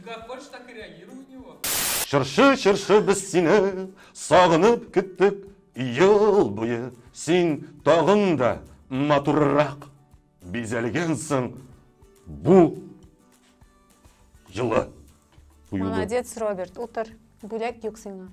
Как хочешь, так и реагируй на него. Чыршы, чыршы, без сине сагынып көттек ел буе. Син тагын да матуррак. Бизәлгән соң бу җылы. куюлы. Молодец, Роберт, утыр. Бүләк юк сиңа.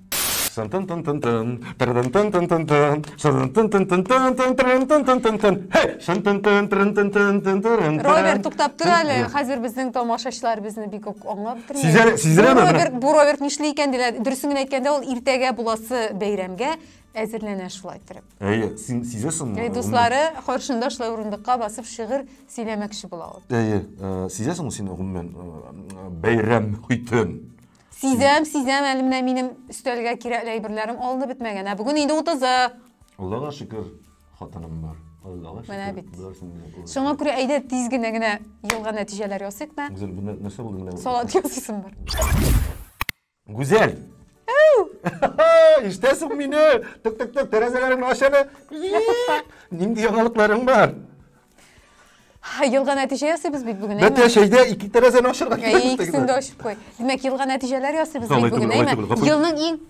Шын-тын-тын-тын-тын, тырын-тын-тын-тын-тын, шырын-тын-тын-тын-тын-тын, тырын-тын-тын-тын-тын. Һей! Шын-тын-тын, тырын-тын-тын-тын-тын-тын. Роберт, туктап тор әле. Юк. Хәзер безнең тамашачылар безне бик үк аңлап бетермәгән. Сизәлә- сизеләме Бу менә? Роберт, бу Роберт нишли икән диләр. Дөресен генә әйткәндә, ул иртәгә буласы бәйрәмгә Әзерләнә шулай торып. Әйе, син сизәсеңме? Әйе, дуслары каршында шулай урындыкка басып шигырь сөйләмәкче була ул. Әйе, э, сизәсеңме син гомумән э, бәйрәм хитен? Сизәм, сизәм, әле менә минем өстәлгә кирәкле әйберләрем алынып бетмәгән. Ә бүген инде 30-ы. Аллага шөкер, хатыным бар. Аллага шөкер. Менә бит. Шуңа күрә әйдә тиз генә генә елга нәтиҗәләр ясыйк та. Үзен нәрсә булды менә? Салат ясыйсың бар. Гүзәл! Ишетәсең мине? Тык тык тык тәрәзәләреңне ач әле. Нинди яңалыкларың бар? Елга нәтиҗә ясыйбыз бит бүген, әйме? Бәтә шәйдә ике тәрәзәне ачырга кирәк. Икесен дә ачып куй. Димәк, елга нәтиҗәләр ясыйбыз бит бүген, әйме? Елның иң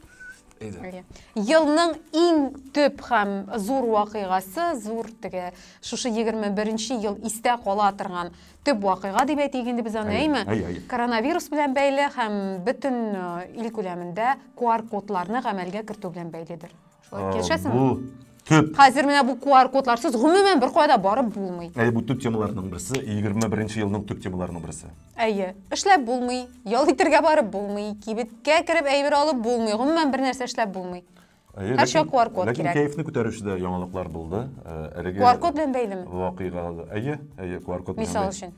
Елның иң төп һәм зур вакыйгасы, зур теге шушы 21 ел истә кала торган төп вакыйга дип әйтик инде без аны, әйме? Коронавирус белән бәйле һәм бөтен э, ил күләмендә QR-кодларны гамәлгә кертү белән бәйледер. Шулай килешәсеңме? Бу төп. Хәзер менә бу QR-кодларсыз гомумән бер кая да барып булмый. Әйе, бу төп темаларның берсе, 21 елның төп темаларының берсе. Әйе, эшләп булмый, ял итәргә барып булмый, кибеткә кереп әйбер алып булмый, гомумән бер нәрсә эшләп булмый. Әйе, Һәр чак QR код ләкин кирәк. кәефне күтәрүче дә яңалыклар булды. Э, Әлеге QR код белән бәйлеме? Вакыйга. Әйе, әйе, QR код. Мисал өчен.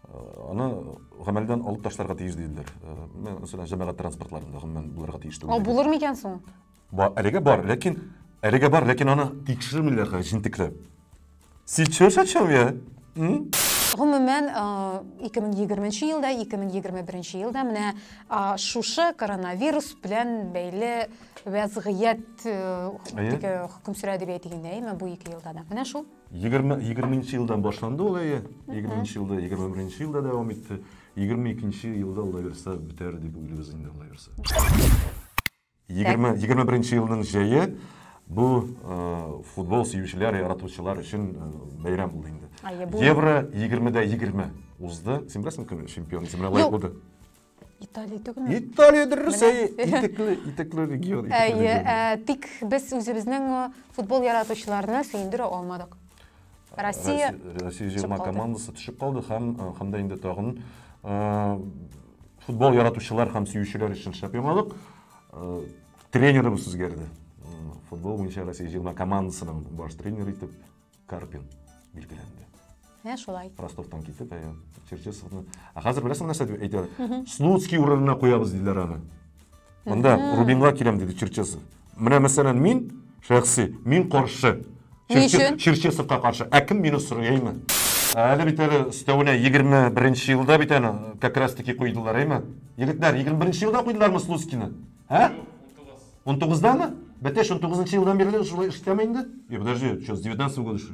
Э, аны гамәлдән алып ташларга тиеш диделәр. Э, мәсәлән, җәмәгать транспортларында гомумән булырга тиеш түгел. Булыр микән соң? Әлегә бар, ләкин әлегә бар, ләкин аны тикшермиләр җентекләп. Сейчас о чем я? М? Гомумән, 2020 э, елда, 2021 елда менә э, шушы коронавирус белән бәйле вәзгыять э, теге хөкем сүрә дип әйтгәндә, әйме бу ике елда да. Менә шул. 20 20 елдан башланды ул әйе. 20 елда, 21 елда дәвам итте. 22 елда ул да бетәр дип уйлыйбыз инде ул да Егерме, егерме беренче елның җәе бу футбол сөючеләр, яратучылар өчен бәйрәм булды инде. Евро 20-дә 20 узды. Син беләсең кем чемпион, кемгә лаек булды? Италия түгелме? Италия дөрес, әйе, итекле, итекле регион. Әйе, тик без үзебезнең футбол яратучыларны сөендерә алмадык. Россия Россия 20 командасы төшеп калды һәм һәм дә инде тагын футбол яратучылар һәм сөючеләр өчен шәп яңалык. Тренерыбыз үзгәрде. Футбол буенча Россия 20 командасының баш тренеры итеп Карпин билгеләнде. Ә шулай. Ростовтан китеп, ә Черчесовны. Ә хәзер беләсең нәрсә дип әйтәләр? Слуцкий урынына куябыз диләр аны. Монда Рубинга киләм диде Черчесов. Менә мәсәлән мин шәхси, мин каршы. Ни өчен? Черчесовка каршы. Ә кем мине сорый, әйме? Әле бит әле өстәвенә 21 елда бит әле как раз таки куйдылар, әйме? Егетләр, 21 елда куйдылармы Слуцкины? Ә? 19-дамы? Бәтәш 19 елдан бирле шулай эштәме инде? Подожди, что, с 19 года что?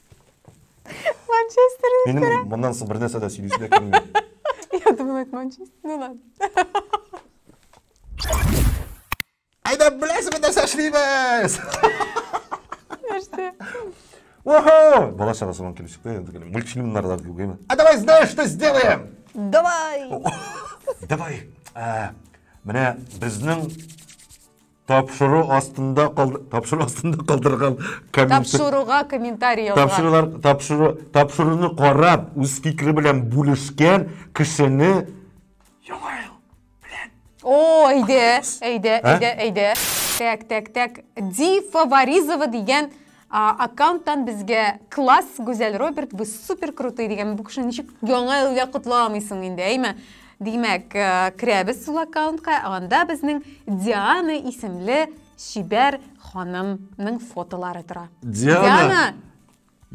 Манчестер Минем моннан соң бер нәрсә дә сөйлисем дә килми. Я думала, это Манчестер. Ну ладно. Әйдә, беләсеме нәрсә эшлибез? Нәрсә? Ого! Бала чагасы белән килеп чыкты, енді мультфильмнарда күгеме? А давай знаешь, что сделаем? Давай! Давай! Ә, Менә безнең тапшыру астында калды, тапшыру астында калдырган комментарий Тапшыруга комментарий язган. тапшырулар тапшыру тапшыруны карап үз фикере белән бүлешкән кешене яңа ел белән О, әйдә, әйдә, Ә? әйдә, әйдә. Тәк, тәк, тәк. Ди Фаворизова дигән А, аккаунттан безгә класс, Гүзәл Роберт, вы супер крутые дигән бу кеше ничек яңа елга котламыйсың инде, әйме? Димәк, э, керәбез шул аккаунтка, анда безнең Диана исемле чибәр ханымның фотолары тора. Диана!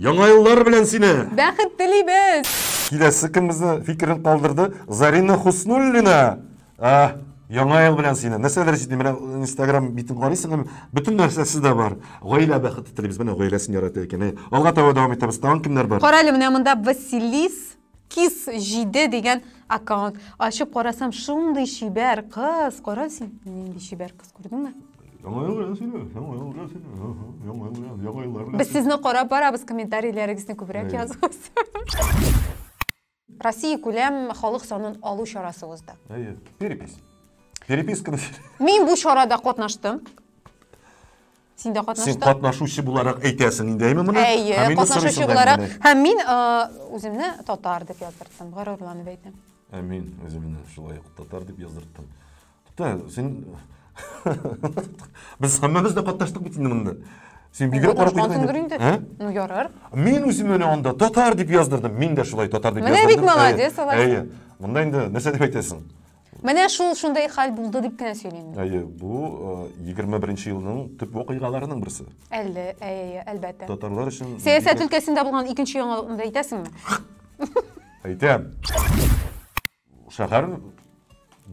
Яңа еллар белән сине! Бәхет телибез! Киләсе кем безне фикерен калдырды? Зарина Хуснуллина! Ә, яңа ел белән сине. Нәрсәләр җитми? Менә Instagram битен карыйсың һәм бөтен нәрсә сездә бар. Гаилә бәхете телибез. Менә гаиләсен ярата икән. Әй, Алга таба дәвам итәбез. Тагын кемнәр бар? Кара әле, менә монда Василис Кис 7 дигән аккаунт. Ачып карасам, шундый чибәр кыз. Кара син, нинди чибәр кыз, күрдеңме? Яңа ел белән сине. Яңа ел белән сине. Ага, Яңа ел белән, яңа еллар белән. Без сезне карап барабыз, комментарийләрегезне күбрәк Әйе. языгыз. Россия күләм халык санын алу чарасы узды. Әйе, перепись. Переписка. Мин бу чарада катнаштым. Син дә катнаштың? Син катнашучы буларак әйтәсең инде, әйме моны? Әйе, катнашучы буларак. Һәм мин үземне татар дип яздырттым, горурланып әйтәм. Ә мин үземне шулай ук татар дип яздырттым. Тә, син... Без һәммәбез дә катнаштык бит инде монда. Син бигрәк карап куйдың инде. Ә? Ну, ярар. Мин үзем менә анда татар дип яздырдым. Мин дә шулай татар дип яздырдым. Менә бит молодец, алай. Әйе. Монда инде нәрсә дип әйтәсең? Менә шул шундай хәл булды дип кенә сөйлим. Әйе, бу 21 нче елның төп вакыйгаларының берсе. Әллә, әйе, әлбәттә. Татарлар өчен Сәясәт өлкәсендә булган икенче яңалыкны да әйтәсеңме? Әйтәм. Шәһәр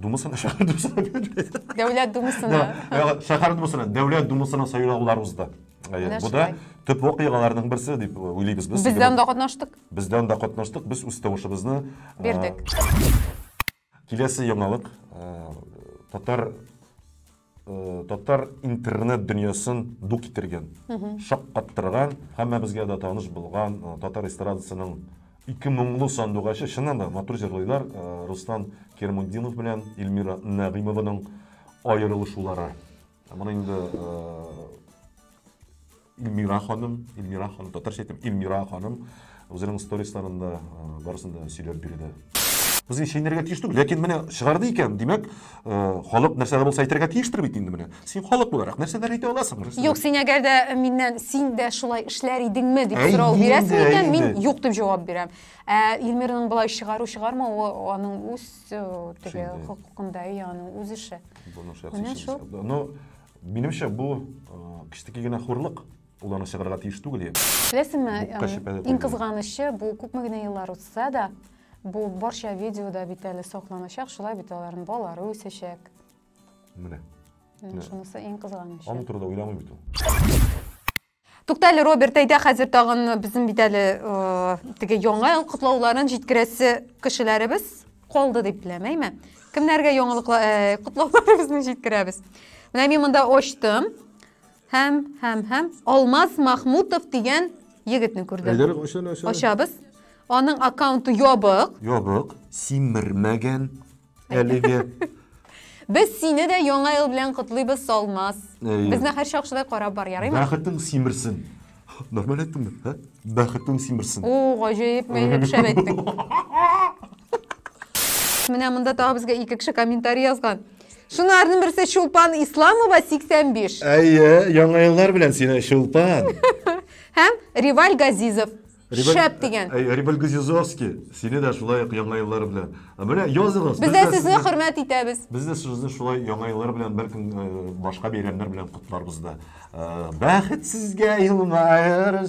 думасына шәһәр думасына Дәүләт думасына. Шәһәр думасына, дәүләт думасына сайлаулар узды. Бу да төп вакыйгаларның берсе дип уйлыйбыз без. Без дә анда катнаштык. Без дә анда катнаштык. Без үз тавышыбызны бирдек. Киләсе яңалык татар Э, татар интернет дөньясын ду китергән шаккаттырган һәммәбезгә дә таныш булган э, татар эстрадасының ике моңлы сандугачы чыннан да матур җырлыйлар э, рустам кермудинов белән эльмира нәгыймованың аерылышулары моны инде Илмира ханым, Илмира ханым, татарча әйтәм, Илмира ханым үзенең сторисларында барысын да сөйләп бирде. Без инде чәйнәргә тиеш түгел, ләкин менә чыгарды икән, димәк, халык нәрсә дә булса әйтергә тиештер бит инде менә. Син халык буларак нәрсәләр әйтә аласың? Юк, син әгәр дә миннән син дә шулай эшләр идеңме дип сорау бирәсең икән, мин юк дип җавап бирәм. Ә Илмираның болай чыгару чыгармавы аның үз теге хокукында, аның үз эше. Моның шәхси эше. Ну, Минемчә, бу э, кечтеки генә хурлык, ул аны чыгарырга тиеш түгел. Беләсеңме, иң кызганычы, бу күпме генә еллар узса да, бу барча видеода бит әле сакланачак, шулай бит аларның балалары үсәчәк. Менә. Шунысы иң кызганычы. Аның турында уйламый бит ул. Тукта әле, Роберт, әйдә хәзер тагын безнең бит әле теге яңа ел котлауларын җиткерәсе кешеләребез калды дип беләм, әйме? Кемнәргә яңалыклар э, котлауларыбызны җиткерәбез? Менә мин монда ачтым. Һәм, һәм, һәм Алмаз Махмутов дигән егетне күрдем. Әйдәлек ачаны ачаны. Ачабыз. Аның аккаунты ябык. Ябык, симермәгән. Әлеге. Без сине дә яңа ел белән котлыйбыз, Салмас. Әйе. Безне һәр шакшыдай карап бар, ярыймы? Бәхетең симерсен. Нормаль әйттем бит, ә? Бәхетең симерсен. О, гаҗәеп, мәйнәк шәп әйттең. Менә монда тагы безгә ике кеше комментарий язган. Шунарның берсе Чулпан Исламова 85. Әйе, яңа еллар белән сине, Чулпан. Һәм Риваль Газизов Рибель... Шәп дигән. Ә, ә, Рибель Гузизовский, сине дә шулай ук яңа еллар белән. Ә менә языгыз. Без дә сезне хөрмәт итәбез. Без дә сезне шулай яңа еллар белән, бәлкем э, башка бәйрәмнәр белән котларбыз да. Э, бәхет сезгә елмаер,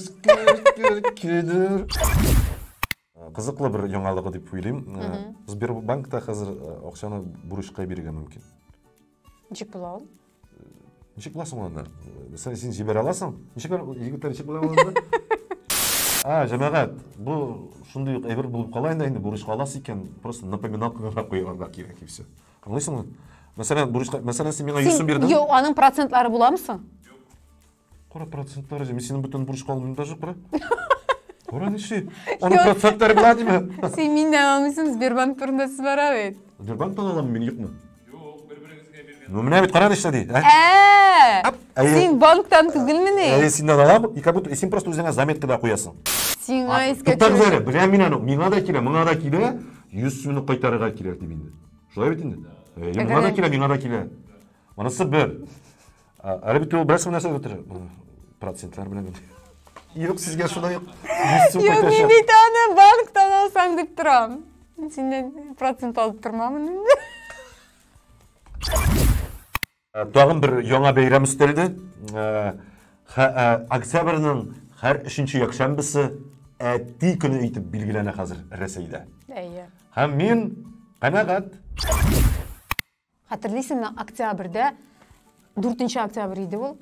Кызыклы бер яңалыгы дип уйлыйм. Э, Сбербанкта хәзер акчаны бурычка бирергә мөмкин. Ничек була ул? Ничек була соң анда? Сен, син җибәрә аласың? Ничек егетләр ничек була анда? А, җәмәгать, бу шундый ук әйбер булып кала инде, инде бурычка аласы икән, просто напоминалка гына куярга кирәк и все. Аңлыйсыңмы? Мәсәлән, бурычка, мәсәлән, син миңа 100 сум бирдең. Юк, аның процентлары буламы соң? Кара процентлары җыймы? Синең бөтен бурыч калмый даже кара. Кара ничек? Аның Юк. процентлары белә диме? Син миннән алмыйсың, Сбербанк турында сүз бара бит. Сбербанк та аламы мин юкмы? Юк, бер-берегезгә биргән. Ну менә бит кара ничә ди. ә? Ә! Ап, әйе. Син банктан Әйе, түгелмени? синнән алам, и как будто син просто үзеңә заметкада куясың. Сиңа искә Туктагыз әле, төшер. беләм мин аны, миңа да килә, моңа да килә, 100 сумны кайтарырга кирәк дип инде. Шулай бит инде? Әйе, моңа да Әгәр- килә, миңа да килә. Монысы бер. Әле бит ул бераз нәрсә бетер. Процентлар белән бетер. Юк, сезгә шулай ук. Юк, мин бит аны банктан алсаң дип торам. Синнән процент алып тормамын инде. Э, тагын бер яңа бәйрәм өстәлде. Э, э, октябрьнең һәр өченче якшәмбесе әти көне итеп билгеләнә хәзер Рәсәйдә. Әйе. Һәм мин канәгать. Хәтерлисеңме, октябрьдә, 4 октябрь иде ул,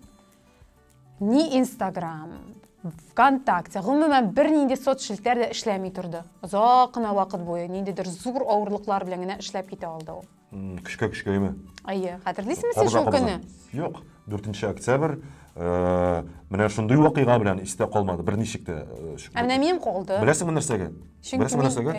ни Инстаграм, ВКонтакте, гомумән бернинди соцшелтәр дә эшләми торды. Озак кына вакыт буе ниндидер зур авырлыклар белән генә эшләп китә алды ул. Көчкә көчкә име? Әйе, хәтерлисеңме син шул көнне? Юк, 4 октябрь э, менә шундый вакыйга белән истә калмады, берничек тә. Э, ә менә минем калды. Беләсеңме нәрсәгә? Беләсеңме нәрсәгә?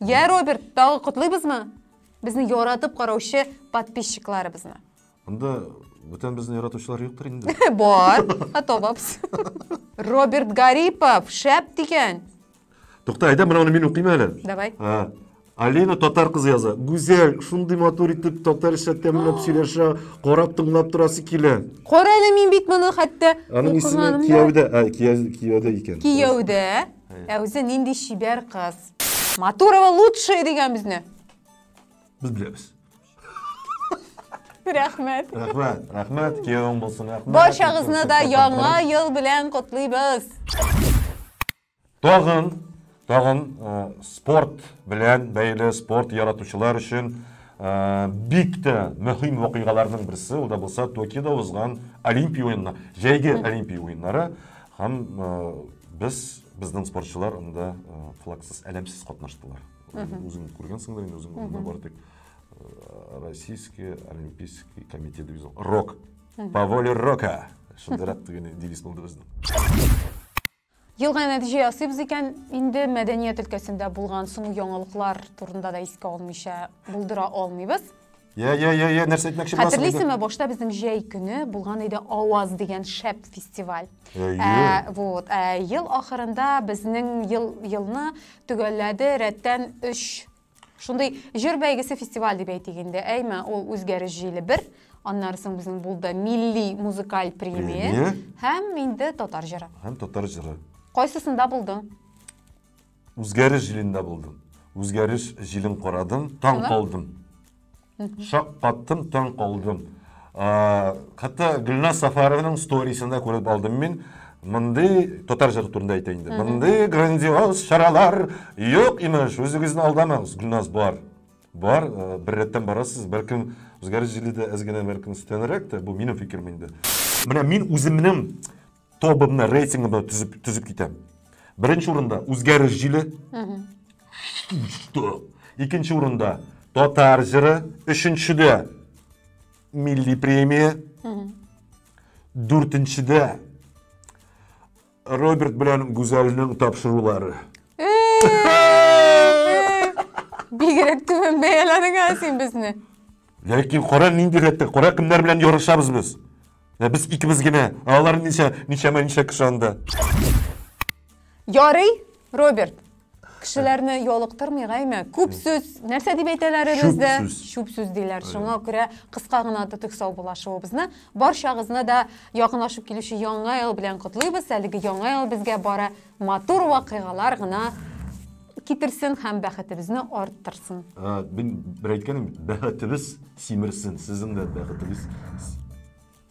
Я, Роберт, тагы котлыйбызмы? Безне яратып караучы подписчикларыбызны. Анда бүтән безне яратучылар юктыр инде. Бар, атабабс. Роберт Гарипов, шәп дигән. Тукта, әйдә, менә аны мин укыйм әле. Давай. А, Алина татар кызы яза. Гүзәл, шундый матур итеп татарча тәмләп сөйләшә, карап тыңлап торасы килә. Кара әле мин бит моны хәтта Аның исеме укыганым да. кияүдә, а, кияү- кияүдә икән. Кияүдә. Ә үзе нинди чибәр кыз. Матурова лучшая дигән безне. Без беләбез. Рәхмәт. Рәхмәт, рәхмәт, киявең булсын, рәхмәт. Баршагызны да яңа ел белән котлыйбыз. Тагын, тагын э, спорт белән бәйле спорт яратучылар өчен э, бик тә мөһим вакыйгаларның берсе, ул да булса Токиода узган Олимпия уеннары, җәйге Олимпия уеннары. Һәм без, безнең спортчылар анда флагсыз, әләмсез катнаштылар. Үзең күргәнсеңдер инде, үзең анда бар тик Российский олимпийский комитет дибез. Рок. По воле рока. Шундыйрак дигән девиз булды безнең. Елга нәтиҗә ясыйбыз икән, инде мәдәният өлкәсендә булган соңгы яңалыклар турында да искә алмыйча булдыра алмыйбыз. Я, я, я, я, нәрсә әйтмәкче буласың? Хәтерлисеңме, башта безнең җәй көне булган иде Аваз дигән шәп фестиваль. Ә, вот, ә, ел ахырында безнең ел елны төгәлләде рәттән 3 шундый җыр бәйгесе фестиваль дип әйтик инде. Әйме, ул үзгәреш җиле бер, аннары соң безнең булды милли музыкаль премия һәм инде татар җыры. Һәм татар җыры. Кайсысында булдың? Үзгәреш җилендә булдым. Үзгәреш җилен карадым, таң Шулай? калдым. Шаккаттым, таң калдым. А, Хәтта Гөлназ Сафарованың сторисен дә күреп алдым мин. Мондый татар җыры турында әйтә инде. Мондый грандиоз чаралар юк имеш. Үзегезне алдамагыз, Гөлназ бар. Бар, э, бер рәттән барасыз, бәлкем үзгәреш җиле дә әз генә бәлкем өстәнрәк тә, бу минем фикерем инде. Менә мин үземнең тобымны рейтингымны түзеп түзеп китәм беренче урында үзгәреш җиле икенче урында татар җыры өченчедә милли премия дүртенчедә роберт белән гүзәлнең тапшырулары бигерәк түбән бәяләдең ә син безне ләкин кара нинди рәттә кара кемнәр белән ярышабыз без Ә без икебез генә. Ә алар ничә, ничәмә ничә кеше анда? Ярый, Роберт. Кешеләрне ялыктырмый гайме? Күп сүз, нәрсә дип әйтәләр бездә? Чүп сүз. Чүп сүз диләр. Шуңа күрә кыска гына тотык саубуллашуыбызны барчагызны да якынлашып килүче яңа ел белән котлыйбыз. Әлеге яңа ел безгә бары матур вакыйгалар гына Китерсен һәм бәхетебезне арттырсын. Ә, мин бер әйткәнем, бәхетебез симерсен, сезнең дә бәхетегез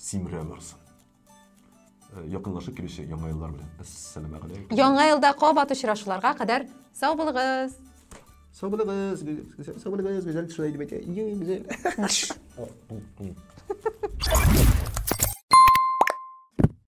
симерә барсын. Э, якынлашып килүче яңа еллар белән әссәламә галәйкүм яңа елда кабат очрашуларга кадәр сау булыгыз сау булыгыз сау булыгыз гүзәл шулай дип әйтә иң гүзәл